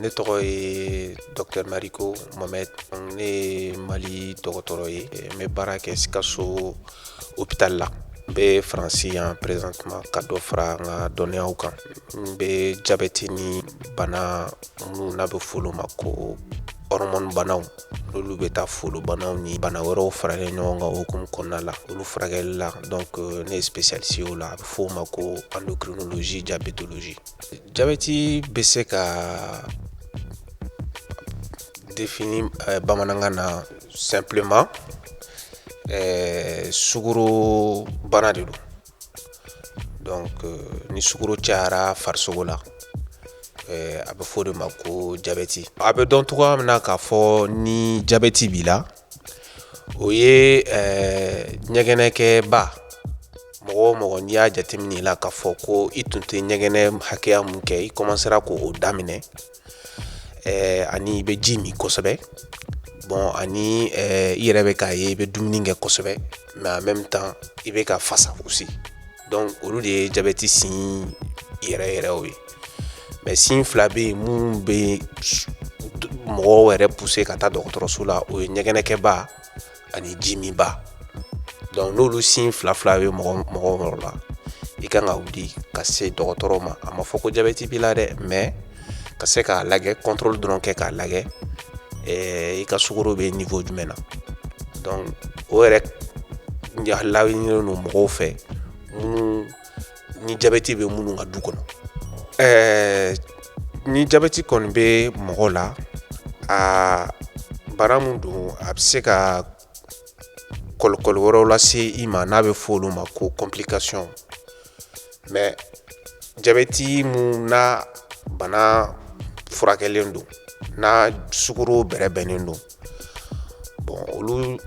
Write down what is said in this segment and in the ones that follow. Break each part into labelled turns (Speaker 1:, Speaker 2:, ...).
Speaker 1: Ne tɔgɔ ye docteur Mariko Mohamed ne mali dɔgɔtɔrɔ ye n bɛ baara kɛ Sikaso hôpital la n bɛ faransi yan présentement ka dɔ fara n ka dɔnniyaw kan n bɛ jabɛti ni bana minnu n'a bɛ f'olu ma ko hɔrɔmɔni banaw n'olu bɛ taa folobanaw ni bana wɛrɛw faralen ɲɔgɔn kan hukumu kɔnɔna la olu furakɛli la donc euh, ne ye spécialiste o la a bɛ f'o ma ko endocrinologie diabétologie jabɛti bɛ se ka définir euh, bamanankan na Simplement ɛɛ sukaro bana de don donc ni sukaro cayara farisogo la a bɛ fɔ o de ma ko jabɛti a bɛ dɔn cogoya min na k'a fɔ ni jabɛti b'i la o ye ɲɛgɛnɛkɛba mɔgɔ o mɔgɔ n'i y'a jateminɛ i la k'a fɔ ko i tun tɛ ɲɛgɛnɛ hakɛya min kɛ i commencera k'o daminɛ ɛɛ ani i bɛ ji min kosɛbɛ bon ani ɛɛ i yɛrɛ bɛ k'a ye i bɛ dumuni kɛ kosɛbɛ mais en même temps i bɛ ka fasa aussi donc olu de ye jabɛti signe yɛrɛ yɛrɛw ye mais signe fila bɛ yen minnu bɛ mɔgɔw yɛrɛ pousser ka taa dɔgɔtɔrɔso la o ye ɲɛgɛnɛkɛba ani ji min ba donc n'olu signe fila fila bɛ mɔgɔ mɔgɔ yɔrɔ la i kan ka wuli ka se dɔgɔtɔrɔ ma a ma fɔ ko jabɛti b'i la dɛ mais ka se k'a lagɛ contrôle dɔrɔn kɛ k'a lagɛ eh, i ka sukoro bɛ niveau jumɛn na donc o yɛrɛ laɲinilen don mɔgɔw fɛ minnu ni jabɛti bɛ minnu ka du kɔnɔ ɛɛ ni jabɛti kɔni bɛ mɔgɔ la a bana min don a bɛ se ka kɔlɔkɔli wɛrɛw lase i ma n'a bɛ fɔ olu ma ko complication mais jabɛti min n'a bana furakɛlen don n'a sukoro bɛrɛbɛnnen don bon olu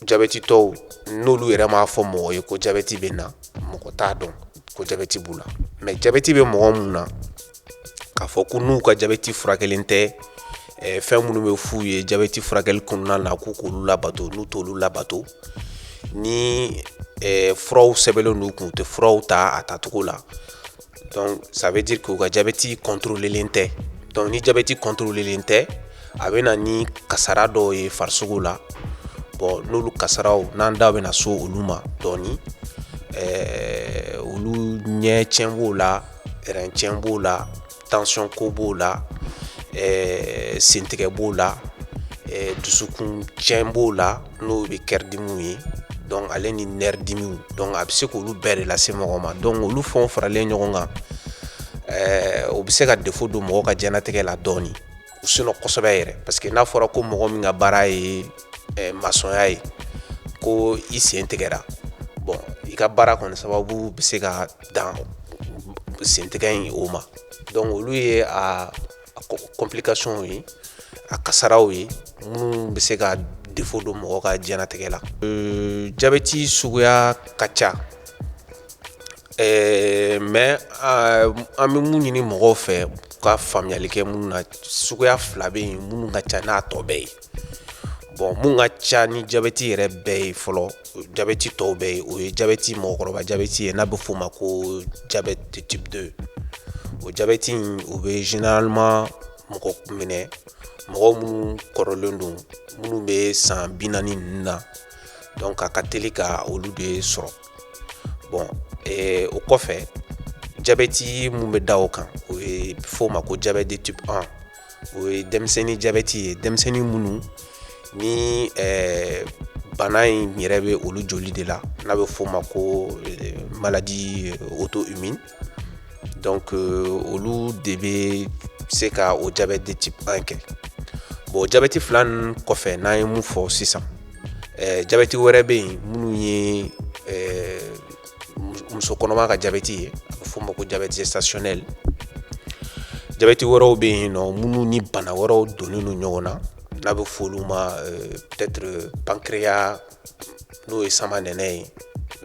Speaker 1: jabɛtitɔw n'olu yɛrɛ m'a fɔ mɔgɔ ye ko jabɛti bɛ n na mɔgɔ t'a dɔn ko jabɛti b'u la mais jabɛti bɛ mɔgɔ minnu na k'a fɔ ko n'u ka jabɛti furakɛlen tɛ eh, fɛn minnu bɛ f'u ye jabɛti furakɛli kɔnɔna na k'u k'olu labato n'u t'olu labato ni eh, furaw sɛbɛnlen don u kun u tɛ furaw ta a tacogo la Donc ça veut dire que u ka jabɛti controlelen tɛ donc ni jabɛti controlelen tɛ a bɛ na ni kasara dɔw ye farisogo la bon n'olu kasaraw n'an da bɛna so olu ma dɔɔni ɛɛ olu ɲɛ tiɲɛ b'o la rein tiɲɛ b'o la tension ko b'o la ɛɛ sentigɛ b'o la ɛɛ dusukun tiɲɛ b'o la n'o bɛ kɛridimiw ye donc ale ni nerf dimiw donc a bɛ se k'olu bɛɛ de lase mɔgɔ ma donc olu fɛnw faralen ɲɔgɔn kan eh, o bɛ se ka défaut don mɔgɔ ka diɲɛlatigɛ la dɔɔnin ou sinon kosɛbɛ yɛrɛ parce que n'a fɔra ko mɔgɔ min ka baara ye eh, masɔnya ye ko i sen tigɛra bon i ka baara kɔni sababu bɛ se ka dan sentigɛ in o ma donc olu ye a A complicationw ye a kasaraw ye minnu bɛ se ka défaut don mɔgɔ ka diɲɛlatigɛ la jabɛti suguya ka ca ɛɛ mais an bɛ mun ɲini mɔgɔw fɛ ka faamuyali kɛ minnu na suguya fila bɛ yen minnu ka ca n'a tɔ bɛɛ ye bon mun ka ca ni jabɛti yɛrɛ bɛɛ ye fɔlɔ jabɛti tɔw bɛɛ ye o ye jabɛti mɔgɔkɔrɔba jabɛti ye n'a bɛ f'o ma ko diabète de type 2 o jabɛti in o bɛ généralement mɔgɔ minɛ mɔgɔ minnu kɔrɔlen don minnu bɛ san bi naani ninnu na donc a ka teli ka olu de sɔrɔ bon eh, o kɔfɛ jabɛti mun bɛ da o kan o ye f'o ma ko diabète de type 1 o ye denmisɛnnin jabɛti ye denmisɛnnin minnu ni bana in yɛrɛ bɛ olu joli de la n'a bɛ f'o ma ko maladie auto-immune donc olu de bɛ se ka o diabète de type 1 kɛ bon jabɛti fila kɔfɛ n'an ye mun fɔ sisan jabɛti wɛrɛ bɛ yen minnu ye muso kɔnɔma ka jabɛti ye a bɛ f'o ma ko diabète gestationnel jabɛti wɛrɛw bɛ yen nɔ minnu ni bana wɛrɛw donnen don ɲɔgɔn na n'a bɛ fɔ olu ma euh, peut-être pancréas n'o ye samanɛnɛ ye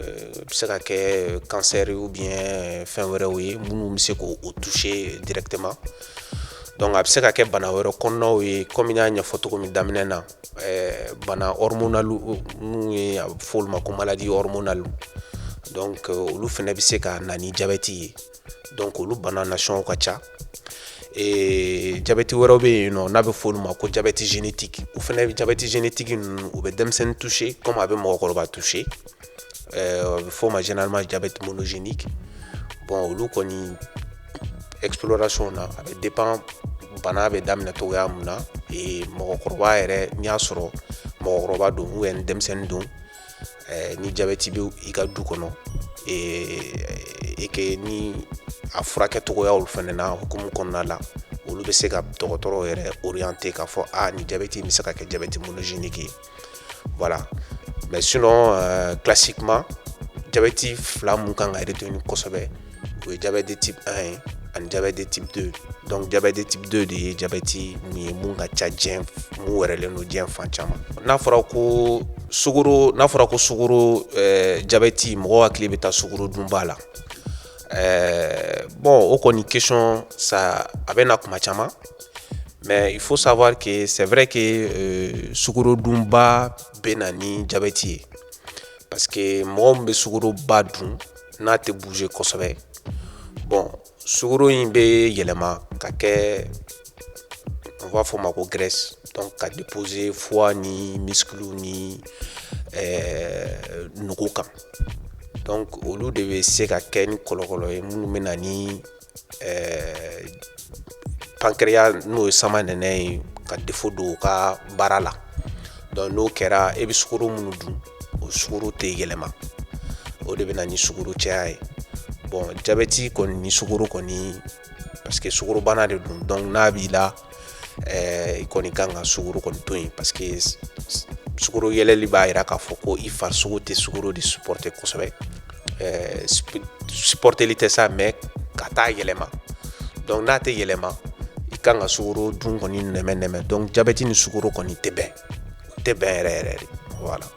Speaker 1: euh, bɛ se ka kɛ cancer ou bien euh, fɛn wɛrɛw ye minnu bɛ se k'o toucher directement donc a bɛ se ka kɛ bana wɛrɛ kɔnɔnaw ye komi n y'a ɲɛfɔ cogo min daminɛ na eh, bana hormonali ninnu ye a bɛ fɔ olu ma ko maladie hormonale donc euh, olu fɛnɛ bɛ se ka na ni jabɛti ye donc olu bana nasɔnw ka ca eh, jabɛti wɛrɛw bɛ yen nɔ n'a bɛ fɔ olu ma ko jabɛti génétique o fɛnɛ jabɛti génétique ninnu u bɛ denmisɛnnin toucher comme a bɛ mɔgɔkɔrɔba toucher bɛ fɔ o ma généralement diabète monogénique bon olu kɔni exploration na a bɛ dépend bana bɛ daminɛ cogoya min na mɔgɔkɔrɔba yɛrɛ n'i y'a sɔrɔ mɔgɔkɔrɔba don ou bien denmisɛnnin don ni jabeti bɛ i ka du kɔnɔ et que ni a furakɛ cogoya olu fɛnɛ na hukumu kɔnɔna la olu bɛ se ka dɔgɔtɔrɔ yɛrɛ orienter k'a fɔ ni jabeti bɛ se ka kɛ jabɛti monogénique Voilà. Mais sinon, euh, classiquement, diabète fila mun kan ka retenir kosɛbɛ o ye diabète de type 1 ye ani diabète de type 2 donc diabète de type 2 de ye diabète min ye mun ka ca diɲɛ mun wɛrɛlen don diɲɛ fan caman n'a fɔra ko sugoro n'a fɔra ko sugoro eh, diabète mɔgɔ hakili bɛ taa sugoro dunba la eh, bon o kɔni question sa a bɛ na kuma caman Mais il faut savoir que c'est vrai que euh, sukorodunba bɛ na ni jabɛti ye parce que mɔgɔ min bɛ sukoroba dun n'a tɛ bouger kosɛbɛ bon sukoro in bɛ yɛlɛma ka kɛ on b'a fɔ o ma ko graisse donc ka déposer foie ni muscles ni euh, nugu kan donc olu de bɛ se ka kɛ ni kɔlɔkɔlɔ ye minnu bɛ na ni ɛɛ pancréas n'o ye samanɛnɛ ye ka défaut don o ka baara la donc n'o kɛra e bɛ sukoro minnu dun o sukoro tɛ yɛlɛma o de bɛ na ni sukoro caya ye bon jabɛti kɔni ni sukoro kɔni parce que sukorobana de don donc n'a b'i la eh, i kɔni kan ka sugoro kɔni to yen parce que sugoro yɛlɛli b'a yira k'a fɔ ko i farisogo tɛ sugoro de supporter kosɛbɛ eh, supporteli tɛ sa mais k'a t'a yɛlɛma donc n'a tɛ yɛlɛma i kan ka sugoro dun kɔni nɛmɛ nɛmɛ donc jabɛti ni sugoro kɔni tɛ bɛn tɛ bɛn yɛrɛ yɛrɛ de voilà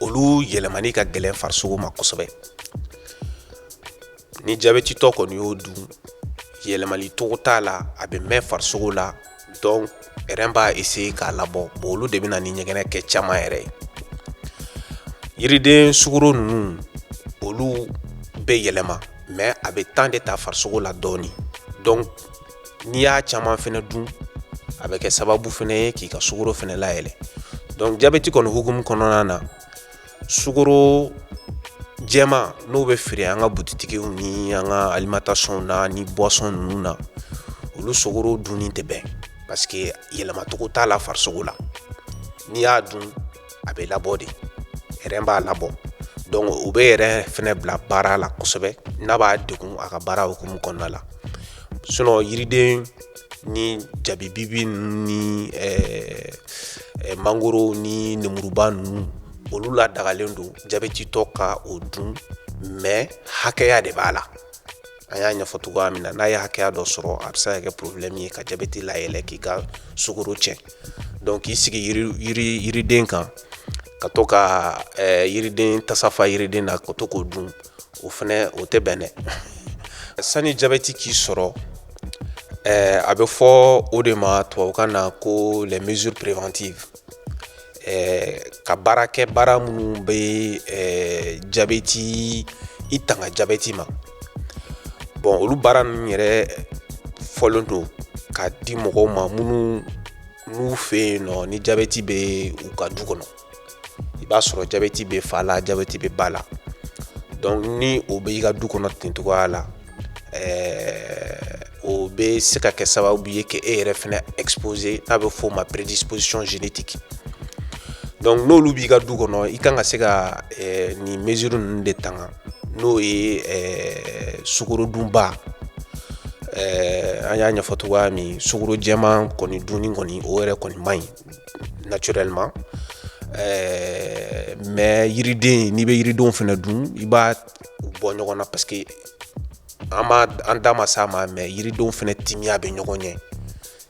Speaker 1: olu yɛlɛmani ka gɛlɛn farisogo ma kosɛbɛ ni jabɛtitɔ kɔni y'o dun yɛlɛmali cogo t'a la a bɛ mɛn farisogo la donc rein b'a essayer k'a labɔ bon olu de bɛna ni ɲɛgɛnɛ kɛ caman yɛrɛ ye yiriden sugoro ninnu olu bɛ yɛlɛma mais a bɛ temps de ta farisogo la dɔɔni donc n'i y'a caman fɛnɛ dun a bɛ kɛ sababu fɛnɛ ye k'i ka sukoro fɛnɛ layɛlɛ donc jabɛti kɔni hukumu kɔnɔna na sukoro jɛman n'o bɛ feere an ka butitigiw ni an ka alimentation na ni boisson ninnu na olu sogoro dunni tɛ bɛn parce que yɛlɛmacogo t'a la farisogo la n'i y'a dun a bɛ labɔ de rein b'a labɔ donc o bɛ rein fɛnɛ bila baara la kosɛbɛ n'a b'a degun a ka baara hukumu kɔnɔna la sinon yiriden ni jabibi ni mangoro ni nemuruba ninnu olu la dagalen don jabɛtitɔ ka o dun mais hakɛya de b'a la a y'a ɲɛfɔ cogoya min na n'a ye hakɛya dɔ sɔrɔ a bɛ se ka kɛ problème ye ka jabɛti layɛlɛn k'i ka sukoro cɛn donc k'i sigi yiriden kan ka to ka eh, yiriden tasafa yiriden na ka to k'o dun o fɛnɛ o tɛ bɛn dɛ sani jabɛti k'i sɔrɔ eh, a bɛ fɔ o de ma tubabukan na ko les mesures préventives ka baara kɛ baara minnu bɛ jabeti i tanga jabeti ma bɔn olu baara ninnu yɛrɛ fɔlen don ka di mɔgɔw ma minnu n'u fɛ yen nɔ ni jabeti bɛ u ka du kɔnɔ i b'a sɔrɔ jabeti bɛ fa la jabeti bɛ ba la donc ni o b'i ka du kɔnɔ ten cogoya la ɛɛ o bɛ se ka kɛ sababu ye que e yɛrɛ fɛnɛ exposé n'a bɛ f'o ma prédisposition génétique donc n'olu b'i ka du kɔnɔ i kan ka se ka ɛɛ nin mesure ninnu de tanga n'o ye ɛɛ sukorodunba ɛɛ an y'a ɲɛfɔ cogoya min sukoro jɛman kɔni dunni kɔni o yɛrɛ kɔni man ɲi naturellement ɛɛ mais yiriden n'i bɛ yiridenw fɛnɛ dun i b'a bɔ ɲɔgɔn na parce que an b'a an da ma s'a ma mais yiridenw fɛnɛ timiya bɛ ɲɔgɔn ɲɛ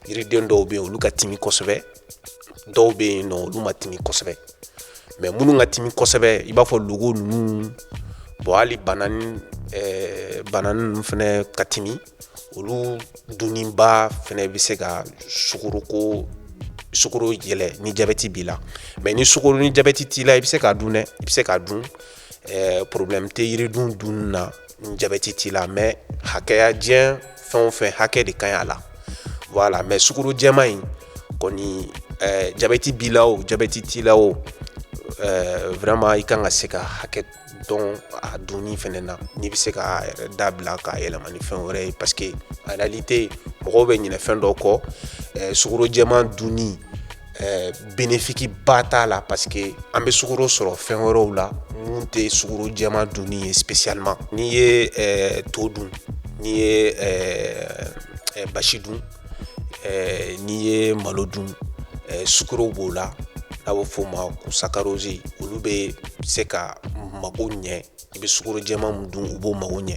Speaker 1: yiriden dɔw bɛ yen olu ka timi kosɛbɛ dɔw bɛ yen nɔ olu man timi kosɛbɛ mais minnu ka timi kosɛbɛ i b'a fɔ logo ninnu bon hali banani eh, banani ninnu fɛnɛ ka timi olu dunniba fɛnɛ bɛ se ka sukoroko sukoro yɛlɛ ni jabɛti b'i la mais ni sukoro ni jabɛti t'i la i bɛ se k'a dun dɛ i bɛ se k'a dun ɛɛ problème tɛ yiriden dun na ni jabɛti t'i la mais hakɛya jɛn fɛn o fɛn hakɛ de ka ɲi a la voilà mais sukoro jɛman in kɔni ɛɛ jabɛti b'i la o jabɛti t'i la o ɛɛ vraiment i kan ka se ka hakɛ don a dunni fɛnɛ na n'i bɛ se k'a yɛrɛ dabila k'a yɛlɛma ni fɛn wɛrɛ ye parce que en réalité mɔgɔw bɛ ɲinɛ fɛn dɔ kɔ ɛɛ sukoro jɛman dunni ɛɛ bénéfice ba t'a la parce que an bɛ sukoro sɔrɔ fɛn wɛrɛw la mun tɛ sukoro jɛman dunni ye spécialement n'i ye ɛɛ to dun n'i ye ɛɛ basi dun ɛɛ n'i ye malo dun ɛɛ sukoro b'o la n'a bɛ f'o ma ko saccharose olu bɛ se ka mago ɲɛ i bɛ sukoro jɛman mun dun u b'o mago ɲɛ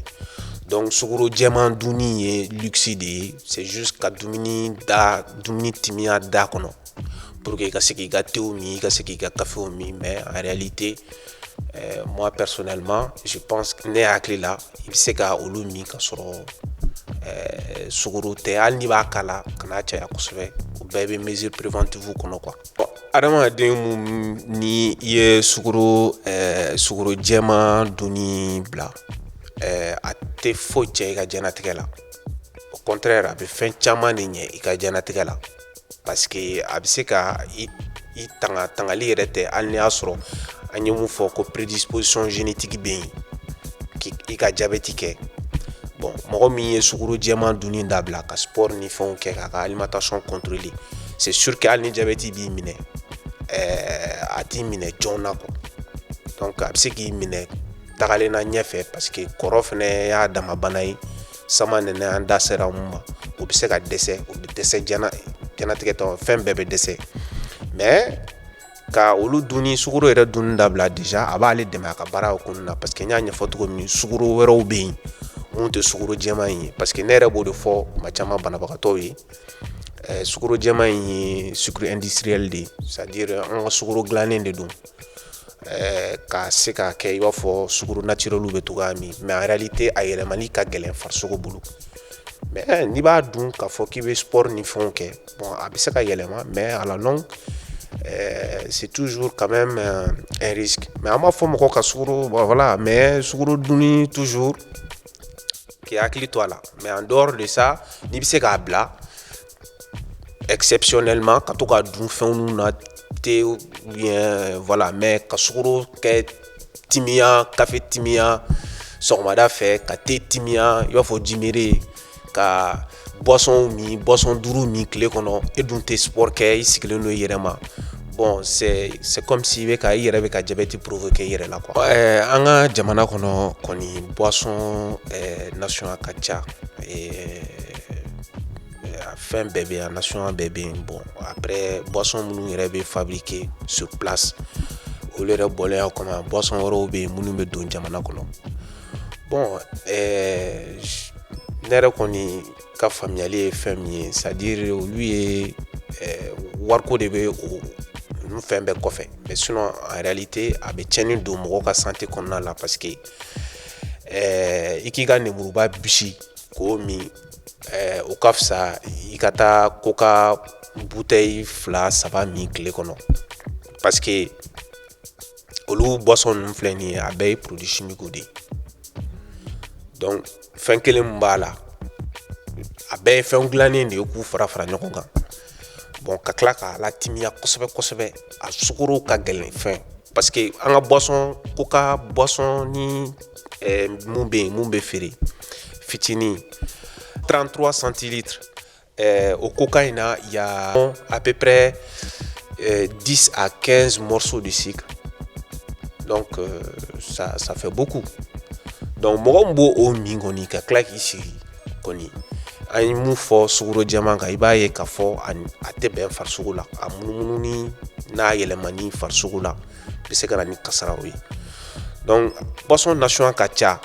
Speaker 1: donc sukoro jɛman dunni ye luxe de ye c'est juste ka dumuni da dumuni timiya da kɔnɔ pour que i ka se k'i ka tew min i ka se k'i ka kafew min mais en réalité euh, moi personnellement je pense que ne hakili la i bɛ se ka olu min ka sɔrɔ euh, sukoro tɛ hali n'i b'a k'a la kana caya kosɛbɛ o bɛɛ bɛ mesure préventive kɔnɔ quoi Adamaden mun ni i ye sukoro sukoro jɛman dunni bila a tɛ foyi cɛ i ka diɲɛlatigɛ la au contraire a bɛ fɛn caman de ɲɛ i ka diɲɛlatigɛ la parce que a bɛ se ka i tanga tangali yɛrɛ tɛ hali n'i y'a sɔrɔ an ye mun fɔ ko prédisposition génétique bɛ yen k' i ka jabɛti kɛ bon mɔgɔ min ye sukoro jɛman dunni dabila ka sport ni fɛnw kɛ k'a ka alimentation contrôler c'est sûr que hali ni jabɛti b'i minɛ ɛɛ a t'i minɛ joona quoi donc a bɛ se k'i minɛ tagalen na ɲɛfɛ parce que kɔrɔ fana y'a dama bana ye samanɛnɛ an da sera mun ma o bɛ se ka dɛsɛ o bɛ dɛsɛ diɲɛlatigɛ tɔ fɛn bɛɛ bɛ dɛsɛ mais ka olu dunni sukoro yɛrɛ dunni dabila déjà a b'ale dɛmɛ a ka baara hokumu na parce que n y'a ɲɛfɔ cogo min sukoro wɛrɛw bɛ yen mun tɛ sukoro jɛman in ye parce que ne yɛrɛ b'o de fɔ kuma caman banabagatɔw ye Sro jama in ye sdisirili de ye sadi an ka sro dilanen de don ɛɛ ka se k'a kɛ i b'a fɔ sro nati bɛ to min mɛ yɛrɛli tɛ a yɛlɛmamani ka gɛlɛn faso bolo mɛ n'i b'a dun kaa fɔ k'i bɛ sɔɔri ni fɛnw kɛ a bɛ se ka yɛlɛma mɛ a ɛɛ situ su ka mɛ mɛ an b'a fɔ mɔgɔ ka mɛ sro dun tusu k'i hakili to a la mais en dehors de ça n'i bɛ se k'a bila exceptionnellement ka to ka dun fɛnw na te ou bien voilà mais ka sukoro kɛ timiya kafe timiya sɔgɔmada fɛ ka te timiya i b'a fɔ jimere ka Boissonw min boisson duuru min tile kɔnɔ e dun tɛ sport kɛ i sigilen don i yɛrɛ ma bon c'est comme si i yɛrɛ bɛ ka jabɛti provoquer i yɛrɛ la quoi an ka jamana kɔnɔ kɔni boisson national ka ca fɛn bɛɛ bɛ yan national bɛɛ bɛ yen bon après boisson minnu yɛrɛ bɛ fabriquer sur place olu yɛrɛ bɔlen a kɔnɔ boisson wɛrɛw bɛ yen minnu bɛ don jamana kɔnɔ bon eh, ne yɛrɛ kɔni ka faamuyali ye fɛn min ye c'est-à-dire olu ye eh, wariko de bɛ o olu fɛn bɛɛ kɔfɛ mais sinon en réalité a bɛ tiɲɛni don mɔgɔ ka santé kɔnɔna la parce que eh, i k'i ka nemuruba bisi k'o min eh, o ka fisa i ka taa coca bouteille fila saba min tile kɔnɔ parce que olu boisson ninnu filɛ nin ye a bɛɛ ye produit chimique de ye donc fɛn kelen min b'a la a bɛɛ ye fɛn dilannen de ye k'u fara fara ɲɔgɔn kan bon ka tila k'a latimiya kosɛbɛ kosɛbɛ a sukoro ka gɛlɛn fɛn parce que an ka boisson coca boisson nin eh, mun bɛ yen mun bɛ feere fitinin 33 centilitres Eh, o coca in na y a à peu près euh, 10 à 15 morceaux de sucre donc euh, ça, ça fait beaucoup donc mɔgɔ min b'o min kɔni ka tila k'i sigi kɔni an ye mun fɔ sukoro jɛman kan i b'a ye k'a fɔ a tɛ bɛn farisogo la a munumununi n'a yɛlɛmani farisogo la bɛ se ka na ni kasaraw ye donc boisson nasɔn a ka ca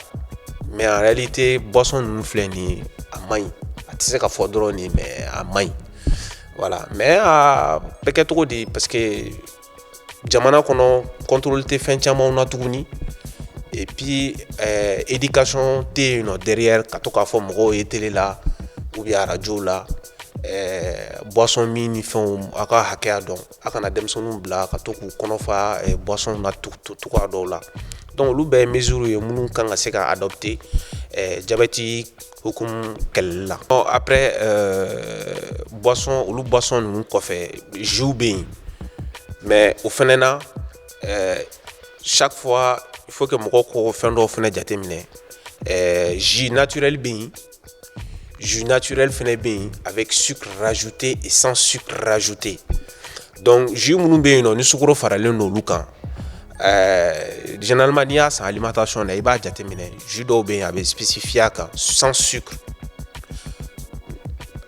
Speaker 1: mais en réalité boisson ninnu filɛ nin ye a man ɲi a tɛ se ka fɔ dɔrɔn nin mais a man ɲi voilà mais a bɛ kɛ cogo di parce que jamana kɔnɔ contrôle tɛ fɛn camanw na tuguni et puis euh, éducation tɛ yen nɔ derrière ka to k'a fɔ mɔgɔw ye télé la ou bien arajow la euh, boisson minnifɛnw a ka hakɛya dɔn a kana denmisɛnninw bila ka to k'u kɔnɔ fa boisson na cogoya dɔw la donc olu bɛɛ mesure ye minnu kan ka se ka adopter jabɛti hukumu kɛlɛli la bon après boisson olu boisson ninnu kɔfɛ jusw bɛ yen mais o fana na chaque fois il faut que mɔgɔ ka fɛn dɔw fana jateminɛ jus naturel bɛ yen jus naturel fana bɛ yen avec sucre rajouté et sans sucre rajouté donc jus minnu bɛ yen nɔ ni sukoro faralen don olu kan ɛɛ généralement n'i y'a san alimentation na i b'a jateminɛ jus dɔw bɛ yen a bɛ spécifier a kan sans sucre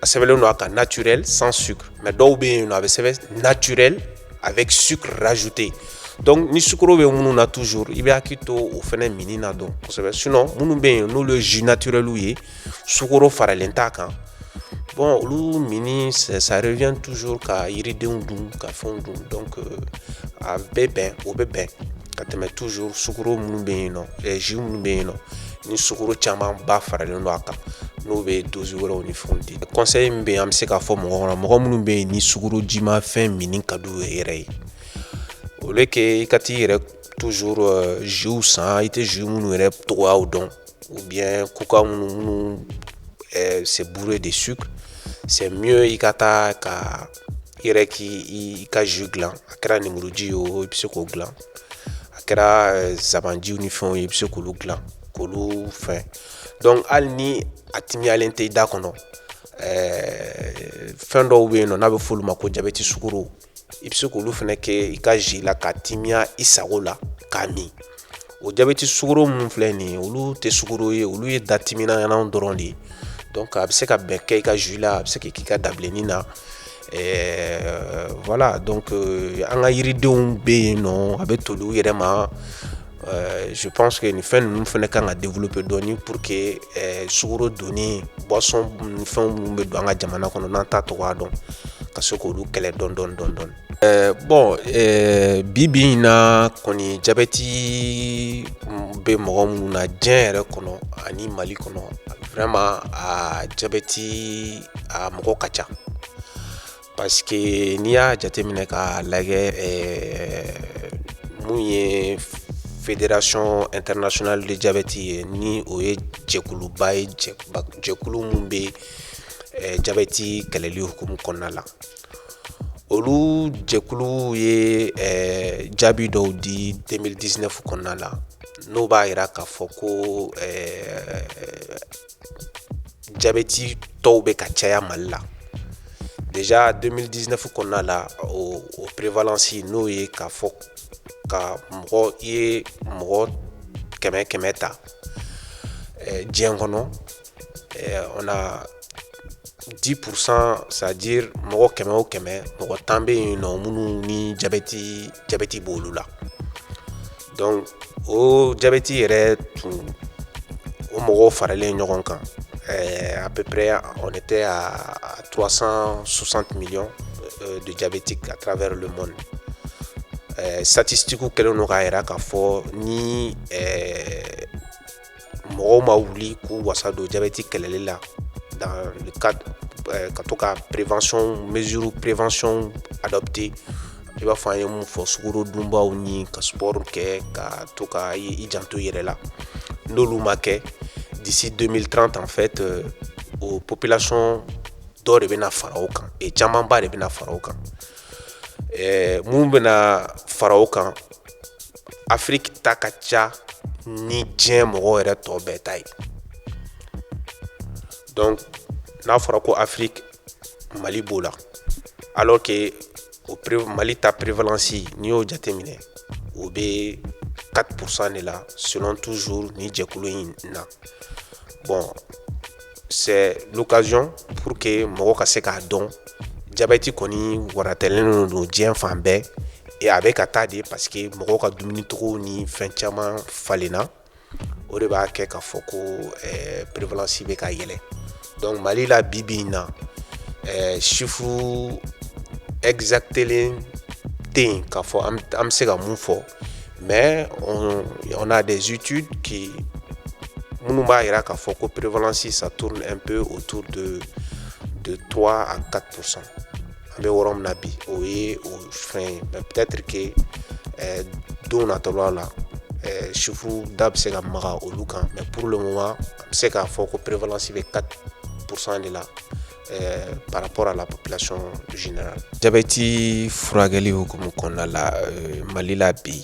Speaker 1: a sɛbɛnlen don a kan naturel sans sucre mais dɔw bɛ yen nɔ a bɛ sɛbɛn naturel avec sucre rajouté donc ni sukoro bɛ minnu na toujours i bɛ hakili to o fana minni na dɔn kosɛbɛ sinon minnu bɛ yen n'olu ye jus naturelw ye sukoro faralen t'a kan bon olu minni ça revient toujours ka yiridenw dun ka fɛnw dun donc a bɛ bɛn o bɛ bɛn ka tɛmɛ toujours sukoro minnu bɛ yen nɔ jus minnu bɛ yen nɔ ni sukoro camanba faralen don a kan n'o bɛ dose wɛrɛw ni fɛnw di conseil min bɛ yen an bɛ se k'a fɔ mɔgɔ kɔnɔ mɔgɔ minnu bɛ yen ni sukoro jimafɛn minni ka d'u yɛrɛ ye au lieu que i ka t'i yɛrɛ toujours euh, jusw san i tɛ jus minnu yɛrɛ cogoyaw dɔn ou bien coca minnu minnu euh, c'est bourré de sucre c'est mieux i ka taa ka i yɛrɛ k'i i ka jus dilan a kɛra nimuruji ye o i bɛ se k'o dilan a kɛra eh, zabanjiw ni fɛnw ye i bɛ se k'olu dilan k'olu fɛn donc hali ni a timiyalen tɛ i da kɔnɔ eh, fɛn dɔw bɛ yen nɔ n'a bɛ f'olu ma ko jabɛti sukoro i bɛ se k'olu fana kɛ i ka ji la k'a timiya i sago la k'a min o jabɛti sugoro minnu filɛ nin ye olu tɛ sugoro ye olu ye datiminanw dɔrɔn de ye donc a bɛ se ka bɛn kɛ i ka jus la a bɛ se k'i k'i ka dabilenni na ɛɛ voilà donc euh, an ka yiridenw bɛ yen nɔ a bɛ toli u yɛrɛ ma Euh, je pense que nin fɛn ninnu fana kan ka développer dɔɔni pour que euh, sugoro donni boisson ni fɛnw minnu bɛ don an ka jamana kɔnɔ n'an t'a cogoya dɔn ka se k'olu kɛlɛ dɔɔni dɔɔni dɔɔni dɔɔni Ɛɛ bon ɛɛ bi bi in na kɔni jabɛti bɛ mɔgɔ minnu na diɲɛ yɛrɛ kɔnɔ ani mali kɔnɔ vraiment a jabɛti a mɔgɔ ka ca parce que n'i y'a jateminɛ k'a lajɛ ɛɛ mun ye Fédération internationale de diabète ye ni o ye jɛkuluba ye jɛkulu min bɛ jabɛti kɛlɛli hukumu kɔnɔna la olu jɛkulu ye eh, jaabi dɔw di 2019 kɔnɔna la n'o b'a yira k'a fɔ ko eh, jabɛtitɔw bɛ ka caya mali la déjà 2019 kɔnɔna la o, o prévalence n'o ye k'a fɔ ka mɔgɔ i ye mɔgɔ kɛmɛ kɛmɛ ta eh, diɲɛ kɔnɔ eh, on a 10% c'est-à-dire mɔgɔ kɛmɛ o kɛmɛ mɔgɔ tan bɛ yen nɔ minnu ni jabɛti b'olu la donc o jabɛti yɛrɛ tun o mɔgɔw faralen ɲɔgɔn kan eh, à peu près on était à 360 millions euh, de diabétiques à travers le monde eh, statistiques kɛlen don k'a yira k'a fɔ ni eh, mɔgɔw ma wuli k'u wasa don jabɛti kɛlɛli la dans le cadre euh, ka to ka prévention mesure prévention adopter i b'a fɔ an ye mun fɔ sukoro dunbaw ni ka sport kɛ ka to ka i janto i yɛrɛ la n'olu ma kɛ d'ici 2030 en fait euh, o population dɔ de bɛna fara o kan e camanba de bɛna fara o kan eh, mun bɛna fara o kan afiriki ta ka ca ni diɲɛ mɔgɔw yɛrɛ tɔ bɛɛ ta ye donc n'a fɔra ko afiriki mali b'o la alors que o mali ta prévalence n'i y'o jateminɛ o bɛ 4% de la selon toujours nin jɛkulu in na bon c'est l'occasion pour que mɔgɔ ka se k'a dɔn jabɛti kɔni waratɛlen don diɲɛ fan bɛɛ et a bɛ ka taa de parce que mɔgɔw ka dumunicogo ni fɛn caman falenna o de b'a kɛ k'a fɔ ko eh, prévalence bɛ ka yɛlɛ donc mali la bi bi in na eh, chiffre exactelen tɛ yen k'a fɔ an bɛ se ka mun fɔ mais on, on a des études qui minnu b'a jira k'a fɔ ko prévalence ça tourne un peu autour de de 3 à 4% an bɛ yɔrɔ min na bi o ye o fɛn ye mais peut-être que eh, don nata la la eh, chiffre da bɛ se ka maga olu kan mais pour le moment an bɛ se k'a fɔ ko prévalence bɛ 4% de la Eh, par rapport à la population générale jabɛti furakɛli hukumu kɔnɔna la eh, mali la bi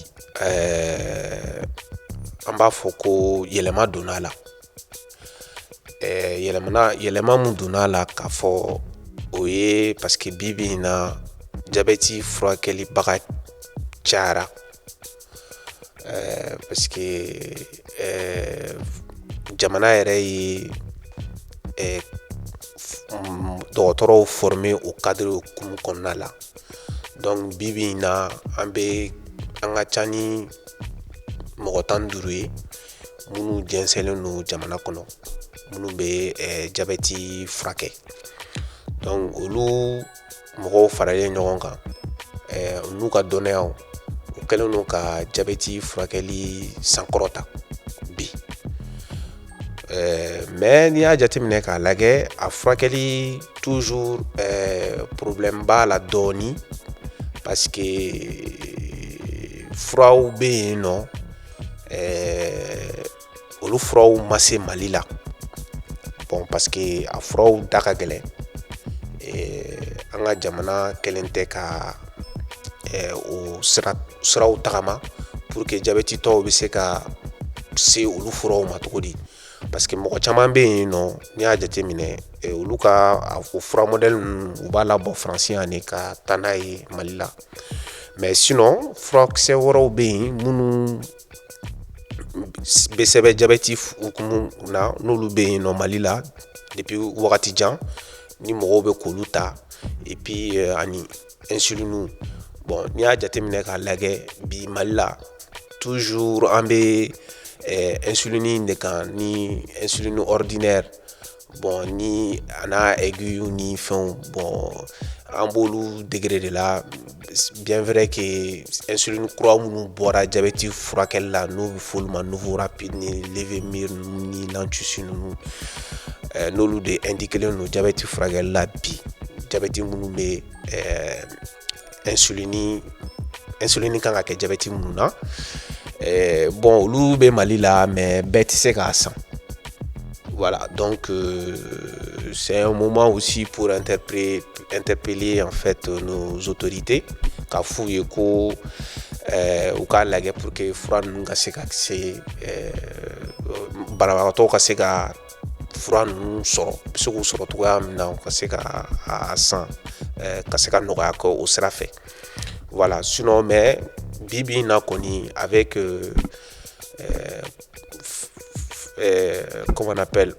Speaker 1: eh, an b'a fɔ ko yɛlɛma donna a la yɛlɛmana yɛlɛma mun donna a la k'a fɔ o ye parce que bi bi in na jabɛti furakɛlibaga cayara Ɛɛ parce que ɛɛ jamana yɛrɛ ye ɛɛ dɔgɔtɔrɔw former o cadre hukumu kɔnɔna la donc bi bi in na an bɛ an ka ca ni mɔgɔ tan ni duuru ye minnu jɛnsɛnlen don jamana kɔnɔ minnu bɛ ɛɛ jabɛti furakɛ donc olu mɔgɔw faralen ɲɔgɔn kan n'u ka dɔnniyaw u kɛlen don ka jabɛti furakɛli sankɔrɔta bi mais n'i y'a jateminɛ k'a lajɛ a furakɛli toujours problème b'a la dɔɔnin parce que furaw bɛ yen nɔ olu furaw ma se mali la bon parce que a furaw da ka gɛlɛn an ka jamana kɛlen tɛ ka o siraw tagama pour que jabɛtitɔw bɛ se ka se olu furaw ma cogo di parce que mɔgɔ caman bɛ yen nɔ n'i y'a jateminɛ olu ka o fura mɔdɛli ninnu u b'a labɔ faransi yan de ka taa n'a ye mali la mais sinon furakisɛ wɛrɛw bɛ yen minnu sɛbɛn jabɛti hukumu na n'olu bɛ yen nɔ mali la depuis wagati jan ni mɔgɔw bɛ k'olu ta et puis ani insuline bon n'i y'a jateminɛ k'a lajɛ bi mali la toujours an bɛ insuline de kan ni insuline ordinaire bon ni a n'a aiguilles ni fɛnw bon an b'olu degré de la bien vrai que insuline kura minnu bɔra jabɛti furakɛli la n'o bɛ f'olu ma NovoRapid ni Levemir ninnu ni lantusi ninnu eh, n'olu de indiquelen don jabɛti furakɛli la bi jabɛti minnu bɛ eh, insulini insulini kan ka kɛ jabɛti minnu na eh, bon olu bɛ mali la mais bɛɛ tɛ se k'a san voilà donc euh, c'est un moment aussi pour interpeller en fait nos autorités k'a f'u ye ko eh, u k'a lajɛ pour que fura ninnu ka se ka se eh, banabagatɔw ka se ka fura ninnu sɔrɔ u bɛ se k'u sɔrɔ cogoya min na u ka se ka a san ka se ka nɔgɔya kɛ o sira fɛ voilà sinon mais bi bi na kɔni avec comment on appelle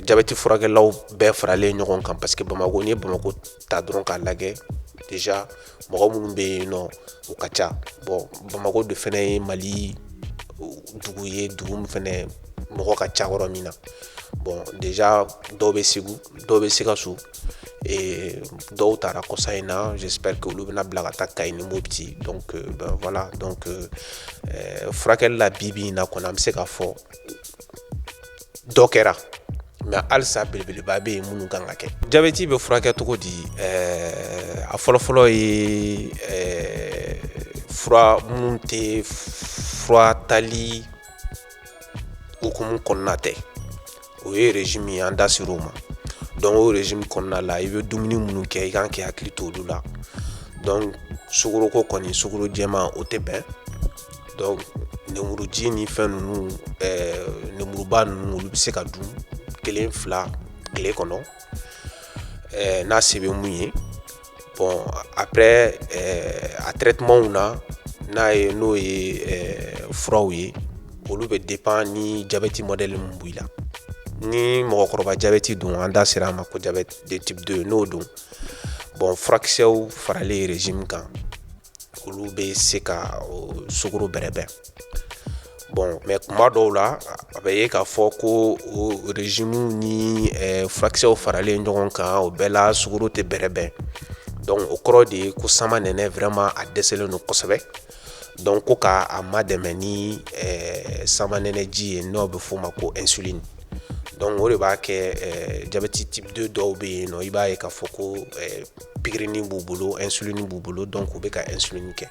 Speaker 1: jabɛti furakɛlaw bɛɛ faralen ɲɔgɔn kan parce que bamakɔ n'i ye bamakɔ ta dɔrɔn k'a lajɛ déjà mɔgɔ minnu bɛ yen nɔ u ka ca bon bamakɔ de fɛnɛ ye mali dugu ye dugu min fɛnɛ mɔgɔ ka ca yɔrɔ min na bon déjà dɔw bɛ segu dɔw bɛ sikaso dɔw taara kɔsa in na j'espère que olu bɛna bila ka taa kayi ni mopti donc voilà donc furakɛli la bi bi in na kɔnɔ an bɛ se k'a fɔ dɔ kɛra mais halisa belebeleba bɛ yen minnu kan ka kɛ jabɛti bɛ furakɛ cogo di ɛɛ a fɔlɔfɔlɔ ye ɛɛ fura minnu tɛ fura tali hukumu kɔnɔna tɛ o ye régime ye an da ser'o ma donc o régime kɔnɔna la i bɛ dumuni minnu kɛ i kan k'i hakili to olu la donc sukoroko kɔni sukoro jɛman o tɛ bɛn Donc nemuruji ni fɛn ninnu ɛɛ nemuruba ninnu olu bɛ se ka dun kelen fila tile kɔnɔ ɛɛ n'a se bɛ mun ye bon après ɛɛ a traitements na n'a ye n'o ye ɛɛ furaw ye olu bɛ dépend ni diabète modèle min b'i la ni mɔgɔkɔrɔba diabète don an da sera a ma ko diabète de type 2 n'o don bon furakisɛw faralen régime kan olu bɛ se ka sukoro bɛrɛbɛn bon mais kuma dɔw la a bɛ ye k'a fɔ ko o régime ni furakisɛw faralen ɲɔgɔn kan o bɛɛ la sukoro tɛ bɛrɛbɛn donc o kɔrɔ de ye ko samanɛnɛ vraiment a dɛsɛlen don kosɛbɛ donc ko ka a madɛmɛ ni samanɛnɛji ye n'o bɛ f'o ma ko insuline donc o de b'a kɛ jabɛti type 2 dɔw bɛ yen nɔ i b'a ye k'a fɔ ko pigirini b'u bolo insuline b'u bolo donc u bɛ ka insuline kɛ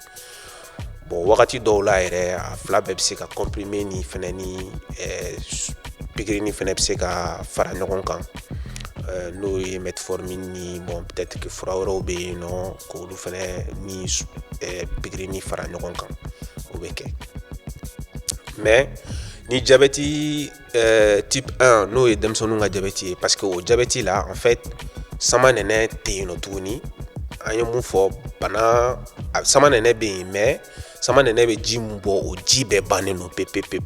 Speaker 1: bon wagati dɔw la yɛrɛ a fila bɛɛ bɛ se ka comprimé ni fana ni pigirini fana bɛ se ka fara ɲɔgɔn kan n'o ye metformine ni bon peut-être que fura wɛrɛw bɛ yen nɔ k'olu fana ni pigirini fara ɲɔgɔn kan o bɛ kɛ mais ni jabɛti Euh, type 1 n'o ye denmisɛnninw ka jabɛti ye parce que o jabɛti la en fait samanɛnɛ tɛ yen nɔ tuguni an ye mun fɔ bana samanɛnɛ bɛ yen mais samanɛnɛ bɛ ji mun bɔ o ji bɛɛ bannen don pepepepe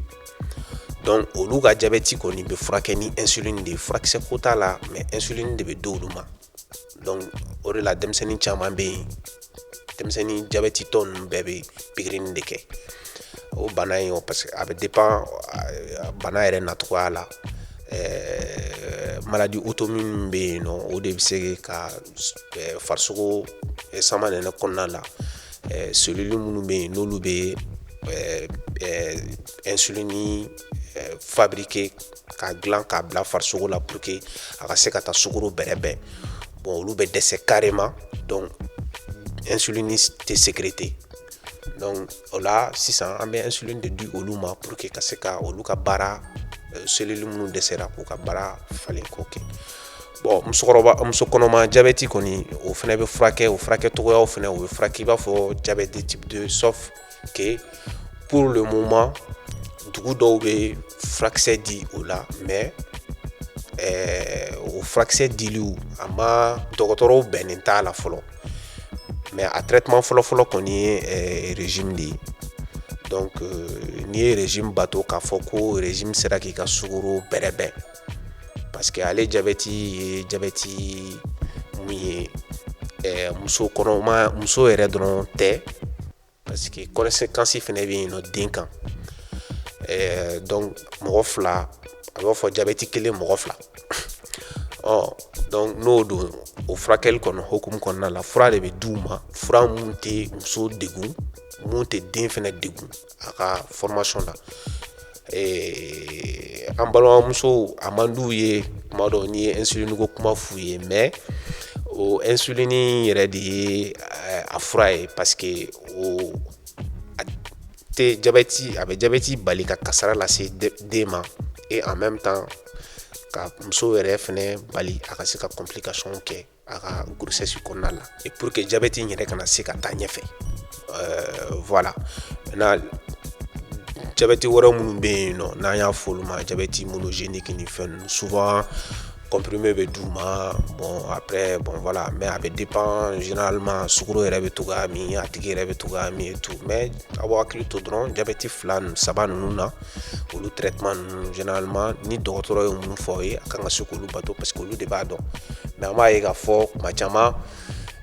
Speaker 1: donc olu ka jabɛti kɔni bɛ furakɛ ni insuline de ye furakisɛ ko t'a la mais insuline de bɛ d'olu ma donc o de la denmisɛnnin caman bɛ yen denmisɛnnin jabɛtitɔ ninnu bɛɛ bɛ pikirini de kɛ o bana in o parce que a bɛ dépend bana yɛrɛ nacogoya la ɛɛ maladie auto-immune bɛ yen nɔ o de bɛ se ka farisogo samanɛnɛ kɔnɔna la ɛɛ cellule minnu bɛ yen n'olu bɛ ɛɛ insuline fabriquer k'a dilan k'a bila farisogo la pour que a ka se ka taa sukoro bɛrɛbɛn bon olu bɛ dɛsɛ carrément donc insuline tɛ sécréter donc o la sisan an bɛ insuline de di olu ma pour que ka se ka olu ka baara euh, cellule minnu dɛsɛra k'u ka baara falen k'o kɛ bon muso kɔnɔma jabɛti kɔni o fana bɛ furakɛ o furakɛcogoyaw fana o bɛ furakɛ i b'a fɔ diabète de type 2 sauf que pour le moment dugu dɔw bɛ furakisɛ di o la mais ɛɛ o furakisɛ diliw a ma dɔgɔtɔrɔw bɛnnen t'a la fɔlɔ mais a traitement fɔlɔfɔlɔ kɔni ye ɛɛ régime de ye donc euh, n'i ye régime bato k'a fɔ ko régime sera k'i ka sukoro bɛrɛbɛn parce que ale jabɛti ye jabɛti mun ye ɛɛ muso kɔnɔma muso yɛrɛ dɔrɔn tɛ Parce que conséquence fana bɛ yen nɔ den kan donc mɔgɔ fila a b'a fɔ jabɛti kelen mɔgɔ fila donc n'o don o furakɛli kɔnɔ hukumu kɔnɔna la fura de bɛ d'u ma fura mun tɛ muso degun mun tɛ den fana degun a ka formation na Ee an balimamusow a man d'u ye tuma dɔ n'i ye insuline ko kuma f'u ye mais o insuline yɛrɛ de ye a fura ye parce que o a tɛ jabɛti a bɛ jabɛti bali ka kasara lase den ma et en même temps ka muso yɛrɛ fana bali a ka se ka complication kɛ a ka grossesse kɔnɔna la et pour que diabète in yɛrɛ kana se ka taa ɲɛfɛ euh, voilà na diabète wɛrɛ minnu bɛ yen nɔ n'an y'a fɔ olu ma diabète monogénique ni fɛn ninnu souvent comprimé bɛ d'u ma bon après bon voilà mais a bɛ dépend généralement sukoro yɛrɛ bɛ cogoya min a tigi yɛrɛ bɛ cogoya min et tout mais aw b'aw hakili to dɔrɔn diabète fila saba ninnu na olu traitement ninnu généralement ni dɔgɔtɔrɔ ye mun fɔ aw ye a kan ka se k'olu bato parce que olu de b'a dɔn mais an b'a ye k'a fɔ kuma caman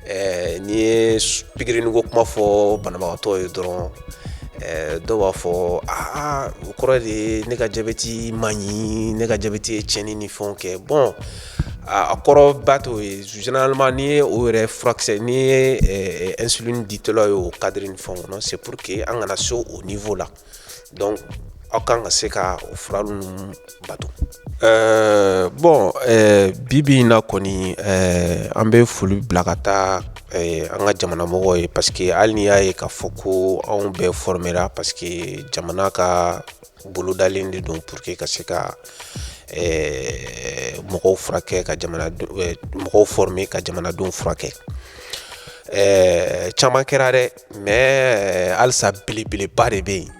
Speaker 1: eh, n'i ye pikirini ko kuma fɔ banabagatɔ ye dɔrɔn eh, dɔw b'a fɔ aa o kɔrɔ de ye ne ka jabɛti man ɲi ne ka jabɛti ye tiɲɛni ni fɛnw kɛ bon a kɔrɔ ba t'o ye généralement n'i ye o yɛrɛ furakisɛ n'i ye eh, insuline ditɔla ye o cadre ni fɛnw kɔnɔ c'est pour que an kana se o niveau la donc aw kan ka se ka o fura ninnu bato ɛɛ bon bibi in na kɔni an bɛ foli bila ka taa an ka jamana mɔgɔw ye parce que hali n'i y'a ye k'a fɔ ko anw bɛɛ formera parce que jamana ka bolodalen de don pour que ka se ka mɔgɔw furakɛ ka mɔgɔw former ka jamanadenw furakɛ ɛɛ caman kɛra dɛ mais halisa belebeleba de bɛ yen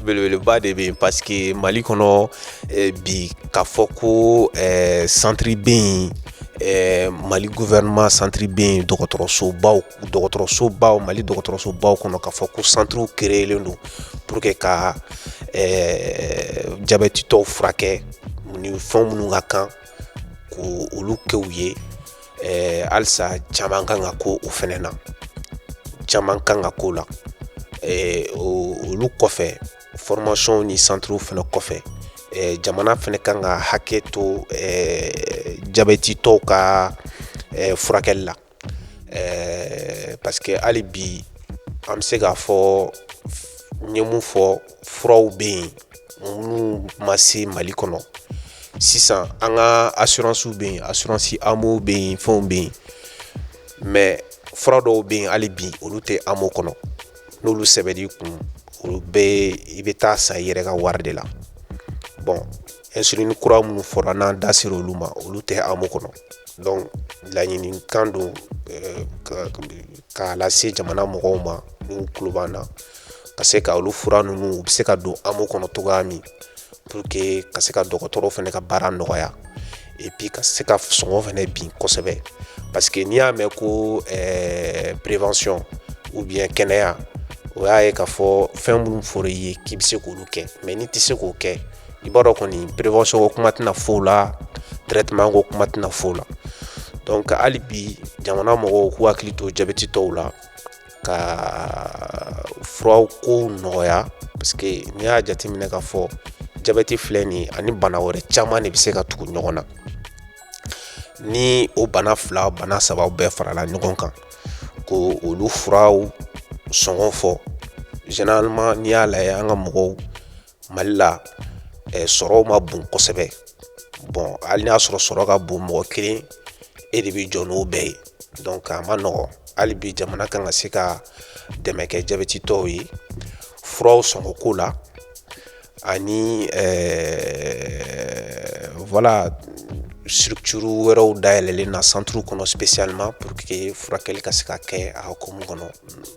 Speaker 1: belebeleba de bɛ yen parce que mali kɔnɔ eh, bi k'a fɔ ko eh, centre bɛ yen eh, mali gouvernement centre bɛ yen dɔgɔtɔrɔsobaw dɔgɔtɔrɔsobaw mali dɔgɔtɔrɔsobaw kɔnɔ k'a fɔ ko centrew créelen don pour que ka jabɛtitɔw furakɛ ni fɛn minnu ka kan k'olu kɛ u ye ɛɛ halisa caman kan ka kɛ o fɛnɛ na caman kan ka kɛ o la ɛɛ olu kɔfɛ formation ni centrew fɛnɛ kɔfɛ ɛɛ jamana fɛnɛ kan ka hakɛ to ɛɛ jabɛtitɔw ka ɛɛ furakɛli la ɛɛ parce que hali bi an bɛ se k'a fɔ n ye mun fɔ furaw bɛ yen minnu ma se mali kɔnɔ sisan an ka assurance bɛ yen assurance amo bɛ yen fɛnw bɛ yen mais fura dɔw bɛ yen hali bi olu tɛ amo kɔnɔ n'olu sɛbɛnn'i kun olu bɛ i bɛ taa san i yɛrɛ ka wari de la bon insuline kura minnu fɔra n'an da sera olu ma olu tɛ amo kɔnɔ donc laɲinikan don eh, k'a lase jamana mɔgɔw ma n'u tulo b'an na ka se ka olu fura ninnu u bɛ se ka don AMO kɔnɔ cogoya min pour que ka se ka dɔgɔtɔrɔw fɛnɛ ka baara nɔgɔya et puis ka se ka sɔngɔ fɛnɛ bin kosɛbɛ parce que n'i y'a mɛn ko eh, prévention ou bien kɛnɛya o y'a ye k'a fɔ fɛn minnu fɔra i ye k'i bɛ se k'olu kɛ mais n'i tɛ se k'o kɛ i b'a dɔn kɔni prévention ko kuma tɛna f'o la traitement ko kuma tɛna f'o la donc hali bi jamana mɔgɔw k'u hakili to jabɛtitɔw la ka furaw ko nɔgɔya parce que n'i y'a jateminɛ k'a fɔ jabɛti filɛ nin ani bana wɛrɛ caman de bɛ se ka tugu ɲɔgɔn na ni o bana fila bana saba bɛɛ farala ɲɔgɔn kan ko olu furaw sɔngɔ fɔ généralement n'i y'a lajɛ an ka mɔgɔw mali la eh, sɔrɔw ma bon kosɛbɛ bon hali n'a sɔrɔ sɔrɔ ka bon mɔgɔ kelen e de bɛ jɔ n'o bɛɛ ye donc a ma nɔgɔn hali bi jamana kan ka se ka dɛmɛ kɛ jabɛtitɔw ye furaw sɔngɔ ko la ani eh, voilà structure wɛrɛw dayɛlɛlen na centre kɔnɔ spécialement pour que furakɛli ka se ka kɛ a hukumu kɔnɔ